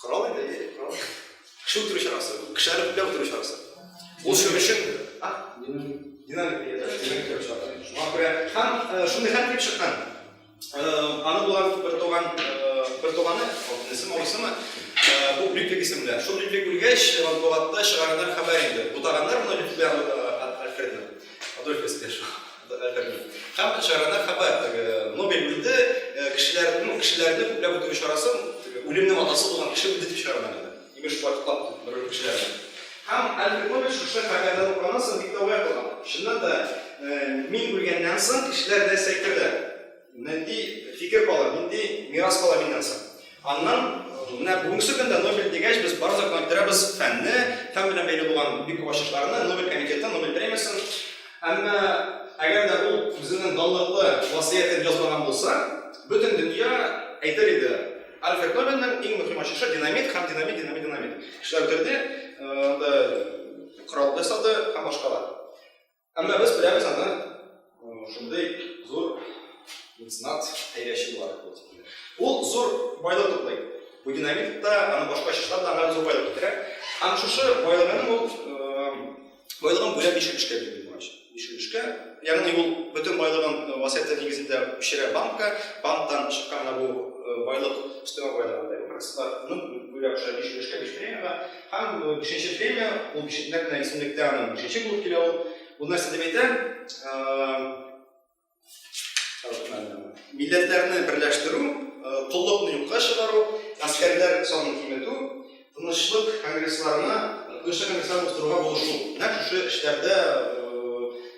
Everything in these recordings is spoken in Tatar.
Кырау инде, әйе, кырау. Кеше үтерү чарасы, кеше әрәпләп үтерү чарасы. Ул шуның өчен динамик динамик чарасы. Шуңа күрә һәм шундый хәл килеп чыккан. Аны булган бер туган бер туганы, алтынчысы, мавысымы, бу Лютик исемле. Шул Лютик үлгәч, матбугатта чыгарганнар хәбәр инде. Бутаганнар моны Лютик Адольф Эспешин. Һәм чарада хәбәр, теге Нобель үлде, кешеләрне, кешеләрне күпләп үтерү чарасы, теге үлемнең атасы булган кеше үлде дип чыгарган иде. Имеш, шулай котлап бер кешеләрне. Һәм Альфред Нобель шушы хәбәрне укыганнан соң бик тә уятылган. Чыннан да, мин үлгәннән соң кешеләр нәрсә әйтерләр? Нинди фикер кала, нинди мирас кала миннән соң? Аннан менә бүгенге көндә Нобель дигәч, без барыбыз да күнектерәбез фәнне, фән белән бәйле булган бик күп ачышларны, Нобель комитетын, Нобель премиясен. Әмма әгәр дә ул үзенең данлыклы васыятен язмаган булса, бөтен дөнья әйтер иде, Альфред Нобельнең иң мөһим ачышы динамит һәм динамит, динамит, динамит. Кешеләр үтерде, анда корал ясады һәм башкалар. Әмма без беләбез аны шундый зур меценат хәйләче буларак булып килә. Ул зур байлык туплый. Бу динамит та, аны башка чышлар да аңа зур байлык китерә. Һәм шушы байлыгын ул байлыгын бүләк ишеп эшкә бирде булгач. Ишеп эшкә, ягъни ул бөтен байлыгын васыятьтә нигезендә пешерә банкка, банктан чыкканга бу байлык, өстәмә байлык анда юк, рәсватның бүләк шәбиш эшкә бирә. Һәм бишенче премия, ул нәкъ менә исемлектә аның бишенче булып килә ул. Ул нәрсә дип әйтә? Милләтләрне берләштерү, коллыкны юкка чыгару, гаскәрләр санын киметү, тынычлык конгрессларына, тынычлык конгрессларын уздыруга булышу. Нәкъ шушы эшләрдә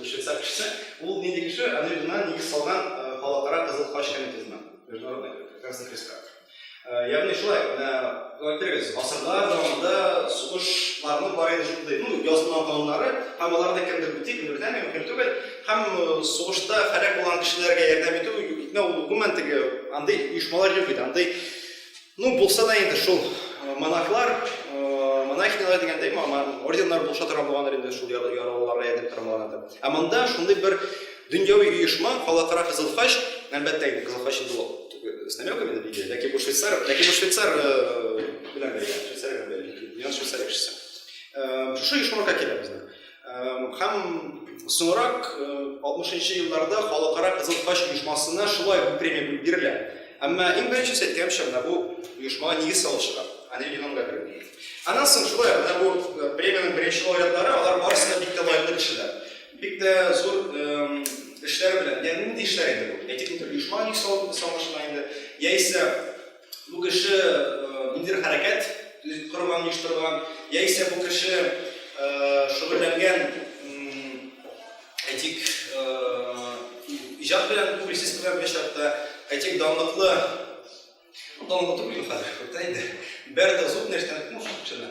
Учиться кеше, ул нинди кеше, аны гына нигез салган халыкара кызыл хач комитетына, международный красный креста. Ягъни шулай, менә әйтегез, гасырлар дәвамында сугышларны бар иде шундый, ну, язма кануннары, һәм аларны кемдер үти, кемдер тәми, мөһим түгел. Һәм сугышта һәлак булган кешеләргә ярдәм итү, итмәү, гомумән, теге андый оешмалар юк иде, андый Ну, булса да инде шул монахлар, монахинялар дигәндәй, орденнар булыша торган булгандыр инде шул яралыларга ярдәм итә торганнардыр. Ә монда шундый бер дөньяви оешма, Калакара Кызыл Хач, әлбәттә инде Кызыл Хач инде ул с намеками на Библию, ләкин бу швейцар, ләкин бу швейцар белән бәйле, швейцар белән бәйле, дөньяны швейцар кешесе. Шушы оешмага килә безнең. Һәм соңрак 60-нчы елларда Халыкара Кызыл Тач оешмасына шулай бу премия бирелә. Әмма иң беренчесе, әйткәнемчә, менә бу оешмага нигез салучыга, Анри Ленонга бирелә. Аннан соң шулай, менә бу премиянең беренче лауреатлары, алар барысы да бик тә лаеклы кешеләр. Бик тә зур эшләре белән, ягъни нинди эшләр инде бу? Әйтик, бу бер оешмага нигез салу булса аңлашыла инде, яисә, Бу кеше ниндидер хәрәкәт корган, оештырган, яисә бу кеше шөгыльләнгән, әйтик, иҗат белән публицистика белән чакта, әйтик, данлыклы данлыклы түгел хәзер, күптән инде. Бәрдә зуб нәрсәне кем шуны?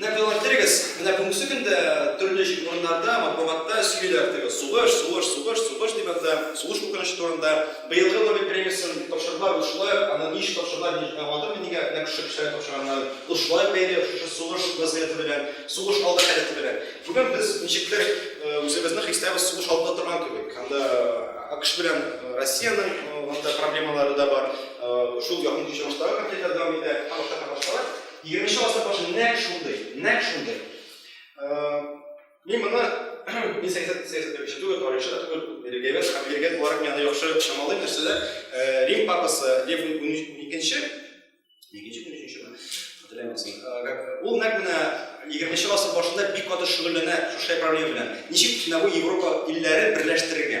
Менә күзаллап китерегез, менә бүгенге көндә төрле җир урыннарда, матбугатта сөйлиләр теге сугыш, сугыш, сугыш, сугыш дип яза, сугыш куркынычы турында. Быелгы Нобель премиясен тапшырдылар, ул шулай ук, аны ничек тапшырдылар, мин аңладым мин нигә нәкъ шушы кешеләргә тапшырганнарын. Ул шулай бәйле шушы сугыш вазгыяте белән, сугыш алды халәте белән. Бүген без ничектер үзебезне хисләбез сугыш алдында торган кебек. Анда АКШ белән Россиянең анда проблемалары да бар, шул якын көнчыгыштагы конфликтлар дәвам итә, һәрвакыт та катнашалар. Егерменче гасыр башы нәкъ шундый, нәкъ шундый. Мин моны мин сәясәт сәясәтче түгел, тарихчы да түгел, религиовед һәм религиовед буларак мин аны яхшы чамалыйм, нәрсә дә Рим папасы Лев уникенче, икенче көн өченчеме, хәтерләмәсен. Ул нәкъ менә егерменче гасыр башында бик каты шөгыльләнә шушы проблема белән. Ничек Нәбу Европа илләрен берләштерергә?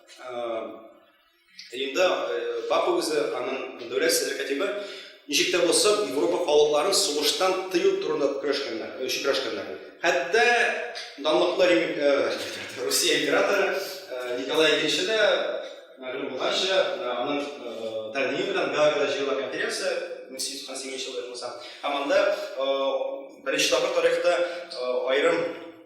Инде бак үзе аның дәүләт серле кәтибе ничек тә булса Европа халыкларын сугыштан тыю турында көрәшкәннәр, өчен көрәшкәннәр. Хәтта данлыклы Русия императоры Николай II дә мәгълүм булганча, аның тәкъдиме белән Гаагада җыела конференция 1898 елда язылса, һәм анда беренче тапкыр тарихта аерым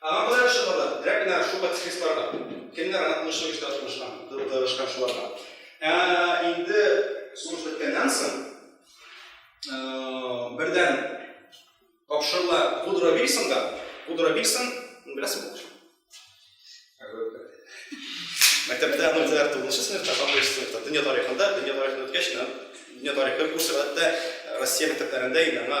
Аңа болай ышанырга, рәк кенә шул пацифистларга, кемнәр аны тынычлык эштә тырышкан, тырышкан шуларга. Ә инде сугыш беткәннән соң, бердән тапшырыла Вудро Вильсонга. Вудро Вильсон, беләсең бу Мәктәптә аны үзләр тугызынчы сыйныфта, алтынчы сыйныфта, дөнья тарихында, дөнья тарихын үткәч, дөнья тарихы курсы гадәттә Россия мәктәпләрендә инде аңа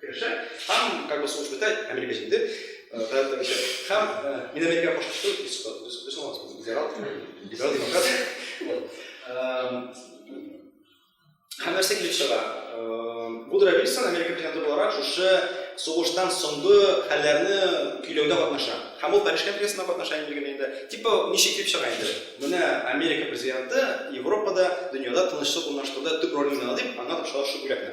Керешә. Һәм, как бы сугыш бетә, Америка җиңде. Гаять керешә. Һәм мин Америкага каршы чыктым, без без без соңгы либерал, либерал демократ. Һәм нәрсә килеп чыга? Вудро Вильсон Америка президенты буларак шушы сугыштан соңгы хәлләрне көйләүдә катнаша. Һәм ул Париж конференциясендә катнаша инде генә инде. Типа ничек дип чыга инде. Менә Америка президенты Европада, дөньяда тынычлык урнаштыруда төп роль уйнады дип, аңа тапшыралар шул бүләкне.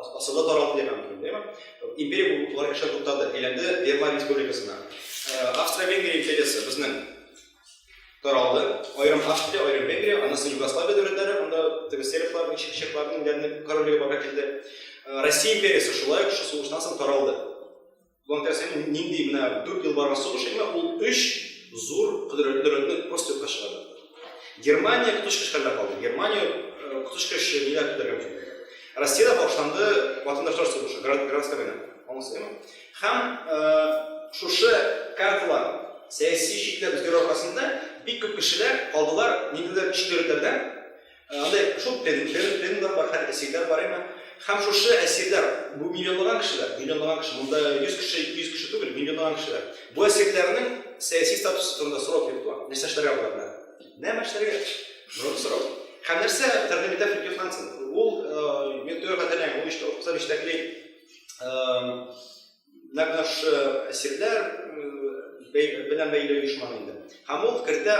Асылы таралды дигән мөмкин, дәйме? Империя бу тулай эшә туктады. Әйләнде Венгер республикасына. Э, Австро-Венгрия империясе безнең таралды. Аерым Австрия, аерым Венгрия, аннан соң Югославия дәүләтләре, анда теге сербларның, чехларның дәрне королеге бара килде. Э, Россия империясе шулай ук сугыштан соң таралды. План тәсере нинди менә 4 ел барган сугыш име, ул 3 зур кодрәтләрне просто юкка чыгарды. Германия коточкыч хәлдә калды. Германия э, коточкыч ниләр көтәргә мөмкин. Россиядә башланды ватандашлар сугышы, гражданская война. Аңласызмы? Һәм э, шушы карталар сәяси чикләр үзгәрү аркасында бик күп кешеләр калдылар ниндидер чикләүләрдән Анда шул пендлер, пендлер бар, хәтта әсирләр бар име. Һәм шушы әсирләр, бу миллионлаган кешеләр, миллионлаган кеше, монда 100 кеше, 200 кеше түгел, миллионлаган кешеләр. Бу әсирләрнең сәяси статусы турында сорау килеп туа. Нәрсә эшләргә болар белән? Нәмә эшләргә? Зур сорау. Һәм нәрсә Тернемитән Фридьев Хансен? Ул, мин төгәл хәтерләмим, ул иштә укыса, биштәкли, Нәкъ әсирләр белән бәйле оешманы инде. Һәм ул кертә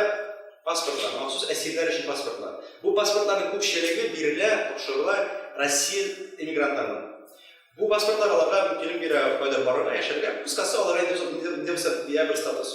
паспортлар, махсус әсирләр өчен паспортлар. Бу паспортларның күпчелеге бирелә, тапшырыла Россия эмигрантларына. Бу паспортлар аларга мөмкинлек бирә кайда барырга, яшәргә. Кыскасы, аларга инде бер статус.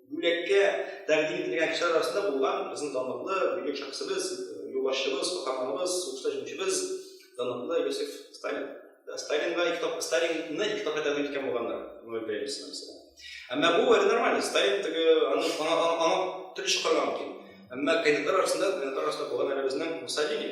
Бүләккә тәкъдим ителгән кешеләр арасында булган безнең данлыклы бөек шәхесебез, юлбашчыбыз, каһарманыбыз, сугышта җиңүчебез, данлыклы Иосиф Сталин. Да, Сталинга ике тапкыр Сталинны ике тапкыр тәкъдим иткән булганнар Нобель премиясенә мәсәлән. Әмма бу әле нормально. Сталин теге аны аңа аңа аңа төрле чакырган мөмкин. Әмма кандидатлар арасында кандидатлар арасында булган әле безнең Муссолини.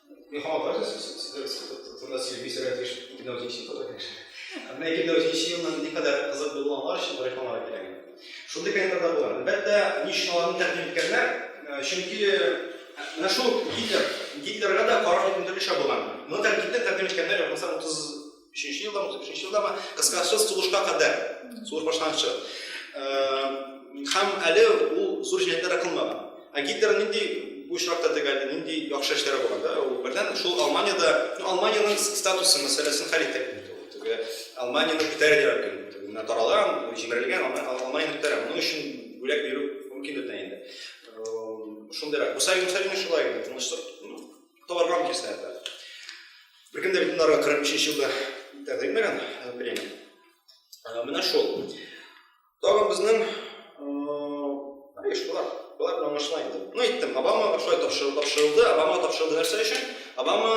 Мин һаман бар сездә сөйләмисез, сәгать биш, ике мең җиденче елда килеш. Менә ике мең җиденче елның никадәр кызык булуы аңлар өчен бер реклама кирәк. Шундый календарьда булган. Әлбәттә, ни өчен аларны тәкъдим иткәннәр? Чөнки менә шул Гитлер, Гитлерга да караш бөтенләй булган. Моны тәкъдим иткәннәр, булмаса 30 Өченче елдамы, өченче елдамы, кыскасы сугышка кадәр, сугыш башланганчы. Һәм әле ул зур җинаятьләр кылмаган. Ә Гитлер нинди бу очракта тегәлде, нинди яхшы эшләре булган да? Ул бердән шул Алманиядә, ну Алманиянең статусы мәсьәләсен хәл итә инде ул. Теге Алманиянең күтәрә дигән көн, менә таралган, җимерелгән, Алманиянең күтәрә. Моның өчен бүләк бирү мөмкин дә инде. Шундыйрак. Бу сәгыйне шулай инде, тынычлык, ну, табарга мөмкин сәгыйне. Бер кем дә бит монда 43 елда тәкъдир итмәгән премия. Менә шул. Тагын безнең Еш болар, болар белән аңлашыла инде. Ну, әйттем, Обамага шулай тапшырылды. Обама тапшырылды нәрсә өчен? Обама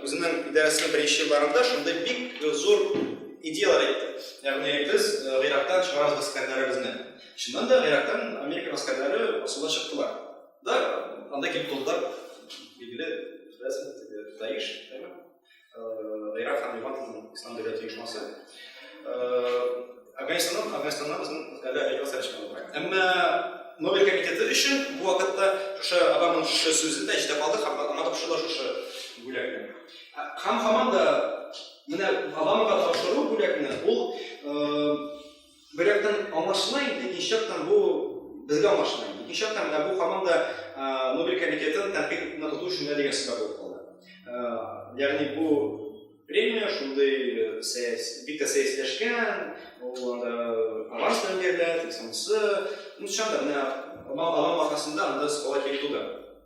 үзенең идарәсенең беренче елларында шундый бик зур идеялар әйтте. Ягъни без Гыйрактан чыгарабыз гаскәрләребезне. Чыннан да Гыйрактан Америка гаскәрләре асылда чыктылар. Да, анда килеп тордылар, билгеле, беләсең, теге Даиш, әйме? Ирак һәм Левантның ислам дәүләте оешмасы. Афганистаннан, Афганистаннан безнең әле әйбәт сәләш булмаган. Әмма Нобель комитеты өчен бу вакытта шушы Обаманың шушы сүзе дә җитә калды һәм аңа тапшырдылар шушы бүләкне. Һәм һаман да менә Обамага тапшыру бүләкне ул Бер яктан аңлашыла инде, икенче яктан бу безгә аңлашыла инде. Икенче яктан менә бу һаман да Нобель комитетын тәнкыйть итүне тоту өчен дә дигән сүзләр булып калды. Ягъни бу премия шундый сәяси, бик тә сәясиләшкән, ул анда аванс белән бирелә, тик соңгысы, ну, чыннан да, менә аның аркасында анда скала килеп туды.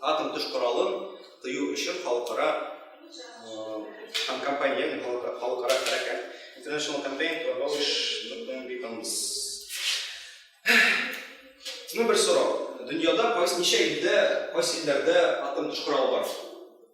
атом төш коралын тыю өчен халыкара һәм компания халыкара хәрәкәт International Campaign to Abolish Nuclear Weapons. Менә бер сорау. Дөньяда кайсы ничә илдә, кайсы илләрдә атом төш коралы бар?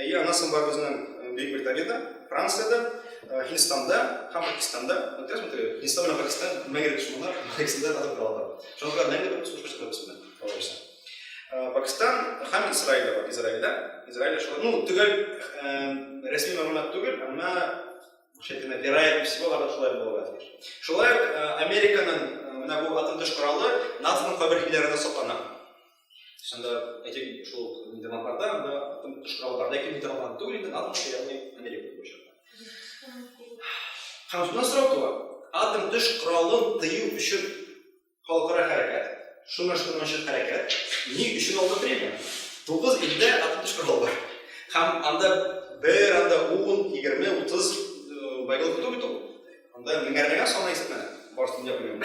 И аннан соң бар безнең Бөек Британияда, Франциядә, Һиндстанда һәм Пакистанда. Вот я смотрю, Һиндстан белән Пакистан мәңге дошманнар, Пакистанда татар калалар. Шуңа күрә мәңге бер сушка чыгып бетсен. Алайса. Пакистан һәм Израиль бар. Израильдә, Израильдә шулай. Ну, төгәл рәсми мәгълүмат түгел, әмма шәкенә вероятность всего аларда шулай булырга тиеш. Шулай Американың менә бу атым төш коралы НАТОның кабер илләрендә саклана. Шунда әйтик, шул демократлар анда атым тотышырга бар, ләкин бит алган түгел инде, НАТО кеше ягъни Америка буенча. Һәм шуннан сорау туа, атом төш коралын тыю өчен халыкара хәрәкәт, шуңа шуңа өчен хәрәкәт, ни өчен алды премия? Тугыз илдә атом төш коралы бар. Һәм анда бер анда 10, 20, 30 байлык тоту бит ул. Анда меңәрләгән саны исәпләнә. Барсын да белмим.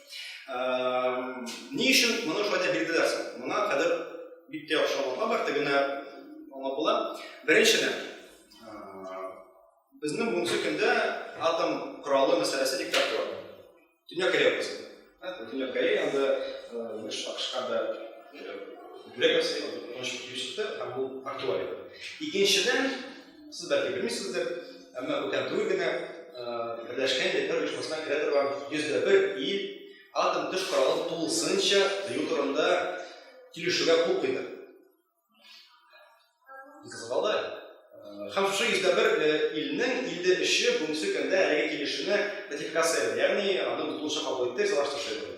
Ни өчен моны шулай дип билгеләрсең? Моңа хәзер бик тә яхшы аңлатма бар, тегене аңлап була. Беренчедән, безнең бүгенге көндә атом коралы мәсьәләсе бик тә актуаль. Дөнья Корея укысын. Дөнья Корея анда Югыш Акышка да бүләк ясый, аны тыныч йөз итә, һәм бу актуаль. Икенчедән, Сез бәлки белмисездер, әмма бүтән түгел генә Берләшкән Милләтләр Оешмасына керә торган 101 ил атом төш коралын тулысынча тыю турында килешүгә кул куйды. Кызгалды. Һәм шушы 101 илнең 53-е бүгенге көндә әлеге килешүне ратификация итә, ягъни аны тулысынча кабул итте, салаштырышы итә.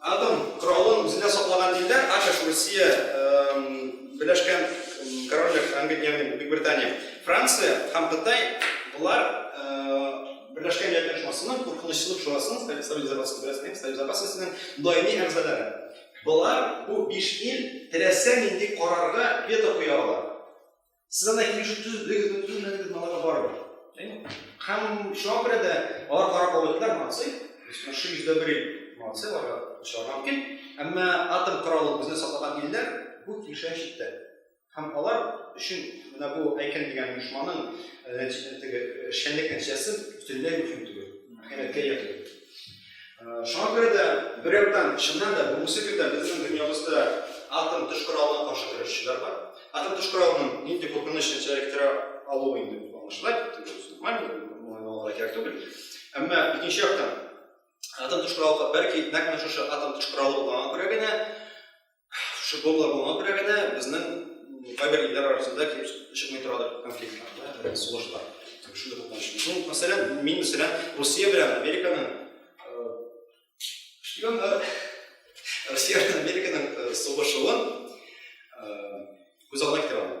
Атом коралын үзендә саклаган илләр, АКШ, Русия, Берләшкән Корольлек, Англия, ягъни Бөекбритания, Франция һәм Кытай, болар Берләшкән Милләтләр Оешмасының Куркынычсызлык шурасының, Совет Запас Берләшкән Совет Запасының даими әгъзалары. Болар, бу биш ил, теләсә нинди карарга вето куя ала. Сез анда 230 бегез, 30 бегез малага барып. Һәм шуңа күрә дә алар карап алганнар, молодцы. Өстенә 100 бер ел молодцы, аларга чыгарга мөмкин. Әмма атом коралы безне сатылган илләр бу килешә читтә. Һәм алар өчен менә бу әйкен дигән оешманың э, теге эшчәнлек нәтиҗәсе бөтенләй мөһим түгел. Хәйрәткә ия түгел. Шуңа күрә дә, бер яктан, чыннан да, бүгенге көндә безнең дөньябызда атом төш коралына каршы көрәшчеләр бар. Атом төш коралының нинди куркыныч нәтиҗәләр китерә алуы инде аңлашыла, нормально, моңа кирәк түгел. Әмма икенче яктан, атом төш коралы, бәлки, нәкъ менә шушы атом төш коралы булганга күрә генә Футболда булган бер генә безнең кайбер илләр арасында килеп чыкмый торадыр конфликтлар, да, сугышлар. Шундый куркыныч. Ну, мәсәлән, мин мәсәлән Россия белән Американың шпионнар Россия белән Американың сугышуын күз алдына китерә алмыйм.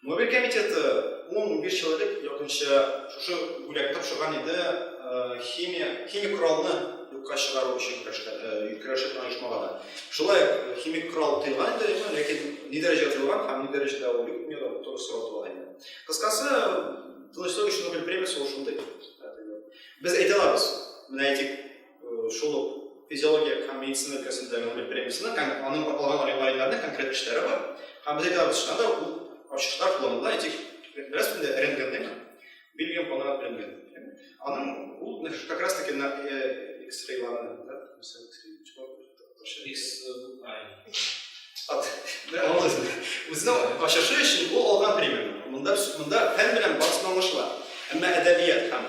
Мобиль комитеты ун-унбиш ел элек якынча шушы бүләкне тапшырган иде химия, химик коралны юкка чыгару өчен көрәшкән, көрәшкән оешмаларга. Шулай химик корал тыелган иде, әмма ләкин ни дәрәҗә тыелган һәм ни дәрәҗәдә ул юк, миңа туры сорау туа инде. Кыскасы, тынычлык өчен Нобель премиясе ул шундый. Без әйтә алабыз, менә әйтик, Шул ук физиология һәм медицина өлкәсендә Нобель премиясына һәм аның алган галимнәренә конкрет эшләре бар. Һәм без әйтәбез, шунда да ул ачышлар кулланыла, әйтик, бераз инде рентгенның Бельгиям калган рентген. Аның ул как раз таки на X-рейларны, да, мисал X-рей, чего? X, Үзенә ачышы өчен ул алган премия. Монда монда фән белән басмалышлар. Әмма әдәбият һәм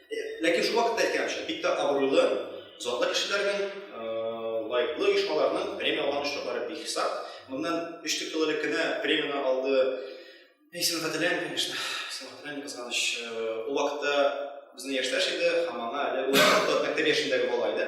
Ләкин шул вакытта әйтәмчә, бик тә абруйлы, затлы кешеләрнең, лайыклы оешмаларның премия алган очраклары бик хисап. Моннан 3-4 ел элек кенә премияне алды. Мин исемен хәтерләмим, конечно. Исемен хәтерләмим, кызганыч. Ул вакытта безнең яшьтәш иде, һәм аңа әле ул вакытта мәктәп яшендәге бала иде.